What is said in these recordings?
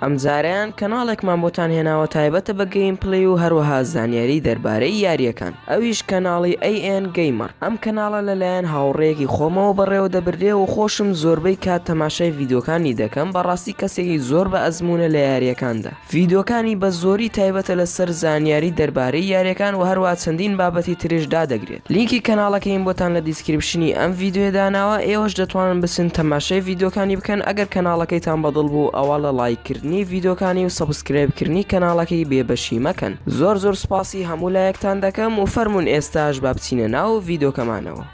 ئەمجارەیان کەناڵێکمان بۆتان هێناوە تایبەتە بە گەیم پلەی و هەروەها زانیاری دەربارەی یاریەکان ئەویش کەناڵی ئەی ئێن گەیمەڕ ئەم کەناڵە لەلایەن هاوڕێیەکی خۆمەوە بەڕێوە دەبردرێ و خۆشم زۆربەی کات تەماشای ڤیدۆکانی دەکەم بەڕاستی کەسێکی زۆر بە ئەزمونە لە یاریەکاندا ڤیدۆکانی بە زۆری تایبەتە لەسەر زانیاری دەربارەی یاریەکان و هەروە چەندین بابەتی ترش دادەگرێت. لینکی کەناڵەکەیم بۆتان لە دیسکریپشنی ئەم ڤیدیۆیە داناوە ئێوەش دەتوانن بچن تەماشای ڤیدیۆکانی بکەن ئەگەر کەناڵەکەیتان بەدڵ بوو ئەوا لە ڵایک کردنی ڤیدیۆکانی و سەبسکرایب کردنی کەناڵەکەی بێ بەشی مەکەن زۆر زۆر سوپاسی هەموو لایەکتان دەکەم و فەرموون ئێستاش با بچینە ناو ڤیدیۆکەمانەوە.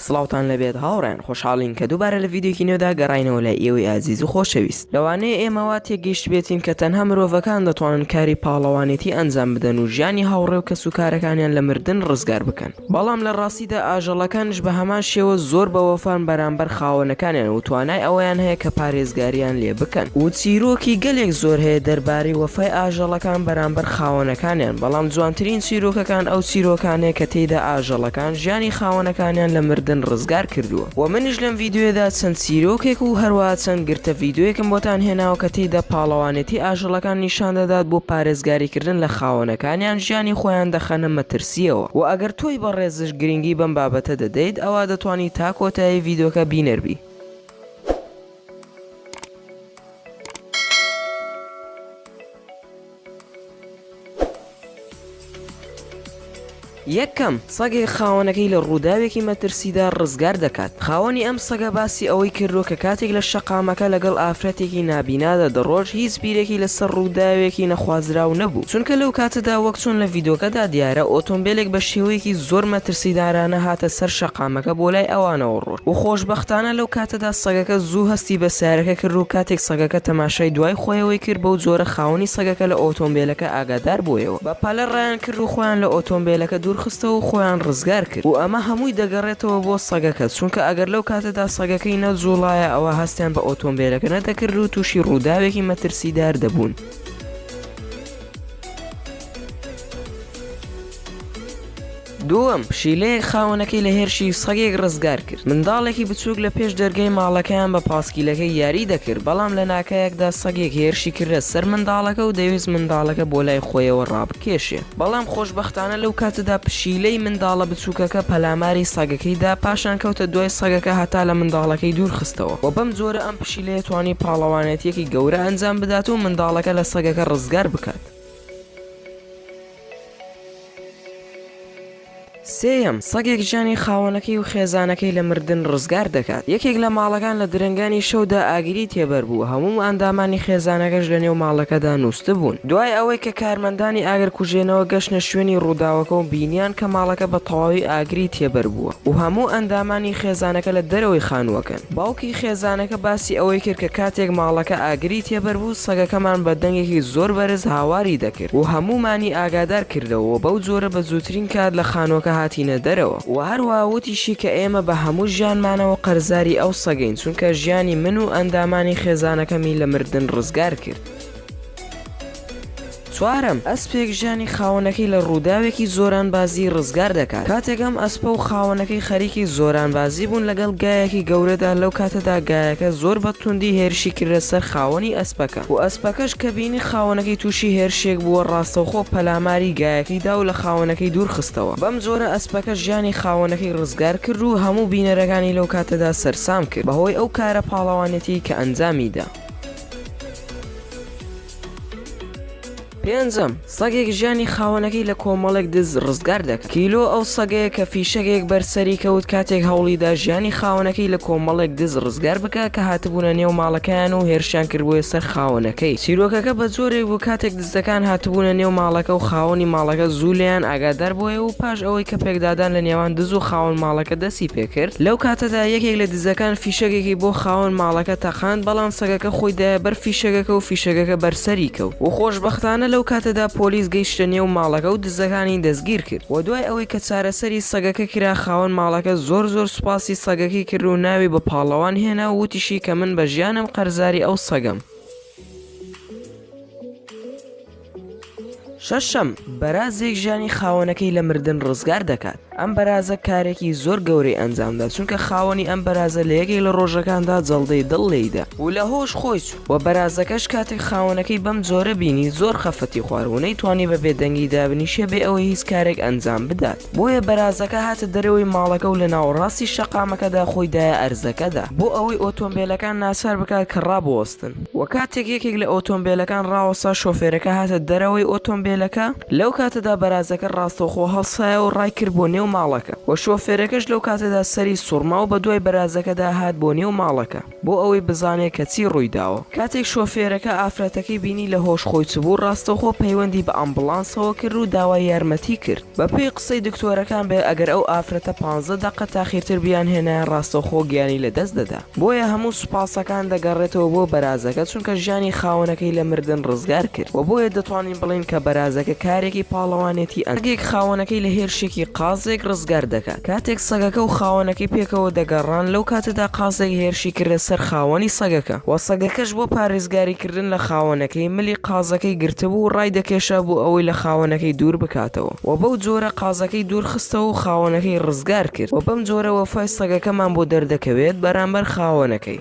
سڵاوتان لەبێت هاوڕێیان خۆشحاڵین کە دووبارە لە ڤیددیوکی نوێدا گەڕینەوە لە ئێوەی ئازیز و خۆشەویست لەوانەیە ئێمەوا تێگەیشتبێتین کە تەنها مرۆڤەکان دەتوانن کاری پاڵەوانێتی ئەنجام بدەن و ژیانی هاوڕێ و کەس و کارەکانیان لە مردن ڕزگار بکەن بەڵام لە ڕاستیدا ئاژەڵەکانش بە هەمان شێوە زۆر بە وەفان بەرامبەر خاوەنەکانیان و توانای ئەوەیان هەیە کە پارێزگاریان لێ بکەن و چیرۆکی گەلێک زۆر هەیە دەربارەی وەفای ئاژەڵەکان بەرامبەر خاوەنەکانیان بەڵام جوانترین چیرۆکەکان ئەو چیرۆکانەیە کە تێیدا ئاژەڵەکان ژیانی خاوەنەکانیان لە مردن ڕزگار کردووە وە منیش لەم ڤیدیۆیەدا چەند چیرۆکێک و هەروەها چەند گرتە ڤیدیۆیەکم بۆتان هێناوە کە تێیدا پاڵەوانێتی ئاژەڵەکان نیشان دەدات بۆ پارێزگاری کردن لە خاوەنەکانیان ژیانی خۆیان دەخەنە مەترسیەوە وە ئەگەر تۆی بەڕێزش گرنگی بەم بابەتە دەدەیت ئەوا دەتوانی تا کۆتایی ڤیدۆکە بینەر بی. یەکەم، سەگێک خاوەنەکەی لە ڕووداوێکی مەترسیدا ڕزگار دەکات، خاوەنی ئەم سەگە باسی ئەوەی کردووە کە کاتێک لە شەقامەکە لەگەڵ ئافرەتێکی نابینادا دەڕۆشت هیچ بیرێکی لەسەر ڕووداوێکی نەخوازراو نەبوو، چونکە لەو کاتەدا وەک چۆن لە ڤیدۆکەدا دیارە ئۆتۆمبێلێک بە شێوەیەکی زۆر مەترسیدارانە هاتە سەر شەقامەکە بۆ لای ئەوانەوە ڕۆشت. و خۆشبەختانە لەو کاتەدا سەگەکە زوو هەستی بە سارەکە کرد و کاتێک سەگەکە تەماشای دوای خۆیەوەی کرد بەو جۆرە خاوەنی سەگەکە لە ئۆتۆمبێلەکە ئاگادار بۆیەوە بە پەلە ڕایان کرد و خۆیان لە ئۆتۆمبێلەکە دوور خستەوە و خۆیان ڕزگار کرد و ئەمە هەمووی دەگەڕێتەوە بۆ سەگەکە چونکە ئەگەر لەو کاتەدا سەگەکەی نەجوڵایە ئەوا هەستیان بە ئۆتۆمبێلەکە نەدەکرد و تووشی ڕووداوێکی مەترسیدار دەبوون. دووەم، پشیلەیەک خاوەنەکەی لە هێرشی سەگێک ڕزگار کرد. منداڵێکی بچووک لە پێش دەرگای ماڵەکەیان بە پاسکیلەکەی یاری دەکرد، بەڵام لە ناکایەکدا سەگێک هێرشی کردە سەر منداڵەکە و دەیویست منداڵەکە بۆ لای خۆیەوە ڕابکێشێ، بەڵام خۆشبەختانە لەو کاتەدا پشیلەی منداڵە بچووکەکە پەلاماری سەگەکەی دا، پاشان کەوتە دوای سەگەکە هەتا لە منداڵەکەی دوور خستەوە و بەم جۆرە ئەم پشیلەیە توانی پاڵەوانێتییەکی گەورە ئەنجام بدات و منداڵەکە لە سەگەکە ڕزگار بکات. سێیەم، سەگێک گیانی خاوەنەکەی و خێزانەکەی لە مردن ڕزگار دەکات. یەکێک لە ماڵەکان لە درەنگانی شەودا ئاگری تێبەر بوو، هەموو ئەندامانی خێزانەکەش لەنێو ماڵەکەدا نووستبوون. دوای ئەوەی کە کارمەندانی ئاگرکوژێنەوە گەشتنە شوێنی ڕووداوەکە و بینییان کە ماڵەکە بە تەواوی ئاگری تێبەر بووە و هەموو ئەندامانی خێزانەکە لە دەرەوەی خانووەکەن، باوکی خێزانەکە باسی ئەوەی کرد کە کاتێک ماڵەکە ئاگری تێبەربوو، سەگەکەمان بە دەنگێکی زۆر بەرز هاواری دەکرد و هەموومانی ئاگادار کردەوە و بەو جۆرە بە زووترین کات لە خانووەکە هاتینە دەرەوە. و هەروەها وتیشی کە ئێمە بە هەموو ژیانمانەوە قەرزاری ئەو سەگەین، چونکە ژیانی من و ئەندامانی خێزانەکەمی لە مردن ڕزگار کرد. چوارەم، ئەسپێک ژیانی خاوەنەکەی لە ڕووداوێکی زۆرانبازیی ڕزگار دەکات، کاتێک ئەم ئەسپە و خاوەنەکەی خەریکی زۆرانبازی بوون لەگەڵ گایەکی گەورەدا، لەو کاتەدا گایەکە زۆر بە توندی هێرشی کردە سەر خاوەنی ئەسپەکە و ئەسپەکەش کە بینی خاوەنەکەی تووشی هێرشێک بووە ڕاستەوخۆ پەلاماری گایەکەی دا و لە خاوەنەکەی دوور خستەوە، بەم جۆرە ئەسپەکە ژیانی خاوەنەکەی ڕزگار کرد و هەموو بینەرەکانی لەو کاتەدا سەرسام کرد بەهۆی ئەو کارە پاڵەوانێتییەی کە ئەنجامی دا. پێنجەم، سەگێک ژیانی خاوەنەکەی لە کۆمەڵێک دز ڕزگار دەکات. کیلۆ ئەو سەگەیە کە فیشەکێک بەر سەری کەوت کاتێک هەوڵیدا ژیانی خاوەنەکەی لە کۆمەڵێک دز ڕزگار بکات کە هاتبوونە نێو ماڵەکەیان و هێرشیان کردبوویە سەر خاوەنەکەی. چیرۆکەکە بە جۆرێک بوو کاتێک دزەکان هاتبوونە نێو ماڵەکە و خاوەنی ماڵەکە زوو لێیان ئاگادار بۆیە و پاش ئەوەی کە پێکدادان لە نێوان دز و خاوەن ماڵەکە دەستی پێکرد لەو کاتەدا یەکێک لە دزەکان فیشەکێکی بۆ خاوەن ماڵەکە تەقاند بەڵام سەگەکە خۆی دایە بەر فیشەکەکە و فیشەکەکە بەر سەری کەوت و خۆشبەختانە لەو کاتەدا پۆلیس گەیشتە نێو ماڵەکە و دزەکانی دەستگیر کرد و دوای ئەوەی کە چارەسەری سەگەکە کرا خاوەن ماڵەکە زۆر زۆر سوپاسی سەگەکەی کرد و ناوی بە پاڵەوان هێنا و وتیشی کە من بە ژیانم قەرزاری ئەو سەگەم. شەشەم بەرازێک ژیانی خاوەنەکەی لە مردن ڕزگار دەکات ئەم بەرازە کارێکی زۆر گەورەی ئەنجامدا چونکە خاوەنی ئەم بەرازە لە یەکێک لە ڕۆژەکاندا جەڵدەی دڵ لێیدا و لە هۆش خۆی و بەرازەکەش کاتێک خاوەنەکەی بەم جۆرە بینی زۆر خەفەتی خواروونەی توانی بە بێدەنگی دابنیشە بێ ئەوەی هیچ کارێک ئەنجام بدات بۆیە بەرازەکە هاتە دەرەوەی ماڵەکە و لە ناوەڕاستی شەقامەکەدا خۆیدایە ئەرزەکەدا بۆ ئەوەی ئۆتۆمبیلەکان ناسار بکات کە ڕابۆست ڕاستن. وە کاتێک یەکێک لە ئۆتۆمبێلەکان ڕاوەستا شۆفێرەکە هاتە دەرەوەی ئۆتۆمبێلەکە لەو کاتەدا بەرازەکە ڕاستەوخۆ هەڵسایەوە ڕای کرد بۆ نێو ماڵەکە وە شۆفێرەکەش لەو کاتەدا سەری سوڕماو بە دوای بەرازەکەدا هات بۆ نێو ماڵەکە بۆ ئەوەی بزانێ کە چی ڕوویداوە کاتێک شۆفێرەکە ئافرەتەکەی بینی لە هۆش خۆی چبوو ڕاستەوخۆ پەیوەندی بە ئامبڵانسەوە کرد و داوای یارمەتی کرد بە پێی قسەی دکتۆرەکان بێ ئەگەر ئەو ئافرەتە پانزە دەقە تاخیرتر بیانهێنایە ڕاستەوخۆ گیانی لە دەست دەدا. بۆیە هەموو سوپاسەکان دەگەڕێتەوە بۆ بەرازەکە چونکە ژیانی خاوەنەکەی لە مردن ڕزگار کرد وە بۆیە دەتوانین بڵێین کە بەرازەکە کارێکی پاڵەوانێتی ئەنجام دا. سەگێک خاوەنەکەی لە هێرشێکی قازێک ڕزگار دەکات. کاتێک سەگەکە و خاوەنەکەی پێکەوە دەگەڕان لەو کاتەدا قازێک هێرشی کردە سەر خاوەنی سەگەکە وە سەگەکەش بۆ پارێزگاری کردن لە خاوەنەکەی ملی قازەکەی گرتبوو و ڕایدەکێشا بۆ ئەوەی لە خاوەنەکەی دوور بکاتەوە. و بەو جۆرە قازەکەی دوورخستەوە و خاوەنەکەی ڕزگار کرد و بەم جۆرە وەفای سەگەکەمان بۆ دەردەکەوێت بەرامبەر خاوەنەکەی.